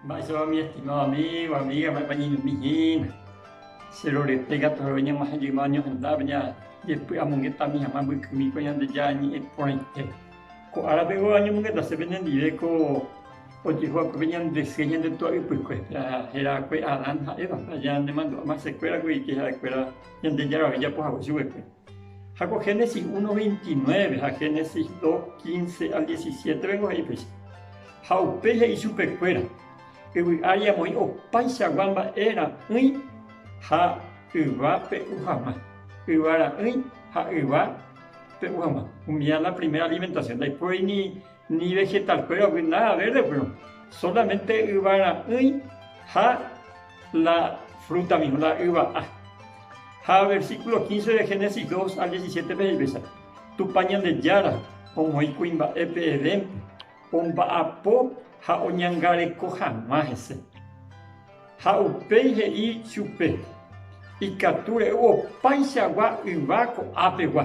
Mba'éichapa mi estimado amigo, amiga, mba'épa ñeñomi hína. Che rorete katu oréve ñamohejýma oñohendápe ñajepy'amongetami hag̃ua mbykymíkue Ñandejára ñe'ẽ porãite. Ko árape oúva oñomongeta che penendive ko ojehu va'ekue pe ñande sy ha ñande túa ypykue, héra va'ekue Adán ha Eva, aña ñanemandu'áma che kuéra ko ike ha'e kuéra Ñandejára ojejapo hague chuguikue. Ha ko Génesis 1, 29 ha Génesis 2, 15 al 17 peko he'i péicha, Ha upéi he'i chupe kuéra, Yvy ári amoĩ opaichagua mba'e ra'ỹi ha yva pe'u hag̃ua, yva ra'ỹi ha yva pe'u hag̃ua. Umi la primera alimentación. Ndaipóri ni Ni vegetalkuéragui nada verdepyrõ, solamente yvara'ỹi ha la fruta mismo, la yva'a. Ha versículo 15 de Génesis 2 al 17-pe he'i péicha, Tupã Ñandejára omoĩ kuimba'épe Edénpe, omba'apo ha oñangareko hag̃ua hese. Ha upéi he'i chupe, Ikatu re'u opaichagua yva ko'ápegua.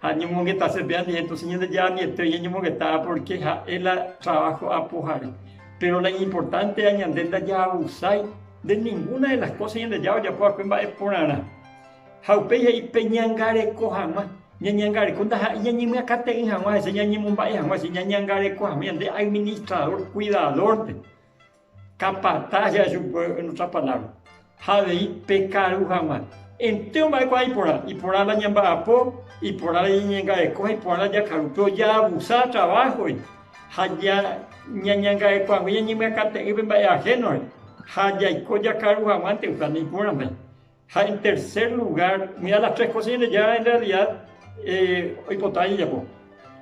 Ha ñomongetase pe ambiénto, si ñande ambiénte ñañomongetava pórke ha'e la traváho apohare. Péro la iñimportántea ñande ndajaabusái de ningúna de las kósa Ñandejára ojapo va'ekue mba'e porãrã. Ha upéi he'i peñangareko hag̃ua. Ñañangareko ndaha'éi ñañemyakãte'ỹ hag̃ua hese, ñañemomba'e hag̃ua hese, ñañangareko hag̃ua ñande administradór, kuidadórpe. Capataz ja'e chupe en otra palabra, ha avei pe karu hag̃ua. Entéro mba'e kuaa iporã, iporã la ñemba'apo, iporã la ñañangareko ha iporã la jakaru, pero ja abusa trabajo-gui ha ja ñañangarekuague ñañemyakate'ỹpe mba'e ajeno-re ha jaiko jakaru hag̃uánte, osea ni iporã mba'e. Ha en tercer lugar, muy a las tres cosas ñande ya en realidad oipota ajejapo.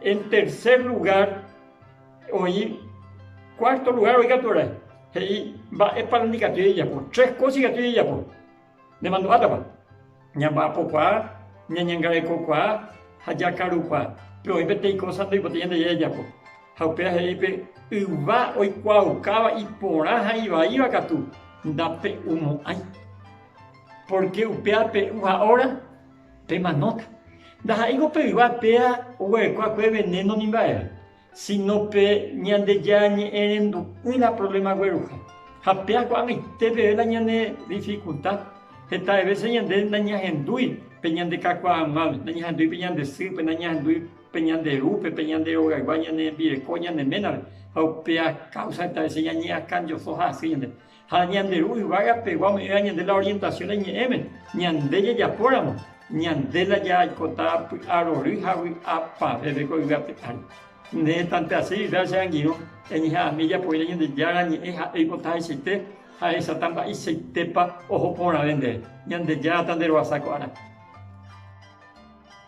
En tercer lugar, oĩ cuarto lugar oĩ katu arai, he'i mba'épa nandikatúi ajejapo. Tres cosas ikatúi ajejapo, nemandu'átapa, ñamba'apokuaa, ñañangarekokuaa ha jakarukuaa. Pero oĩ peteĩ cosa ndoipotái ñande jay ajapo. Ha upéva he'i pe yva oikuaaukáva iporã ha ivaíva katu, Ndape'umo'ãi, pórke upéva pe'u ha óra pemanóta. Ndaha'éiko pe yva térã oguerekoakue venéno ni mba'eve, síno pe Ñandejára ñe'ẽrendu'ỹ la provléma gueruha. Ha péa ko'ag̃aite peve la ñane difikulta, hetave vése ñande nañahendúi pe ñande kakuaa hag̃uágui, nañahendúi pe ñande sýpe, nañahendúi. pe ñande ru, pe pe ñande rogaygua ñane rembireko ñane ménare, ha upéa káusa heta vece ñañeakãjoso ha asy ñande. Ha ñande ru yvága pegua ome'ẽva ñande la orientasiõ la iñe'ẽme, ñande jajapóramo, ñande la jaikota py'a rory ha vy'a pavépe ko yvápe ári. Ne hetãnte asy Biblia che angirũ, eñeha'ãmi ejapohína Ñandejára ñe'ẽ ha eipota hechaite ha ehecháta mba'eichaitépa oho porãve ndéve. Ñandejára ta nderoasa ko árape.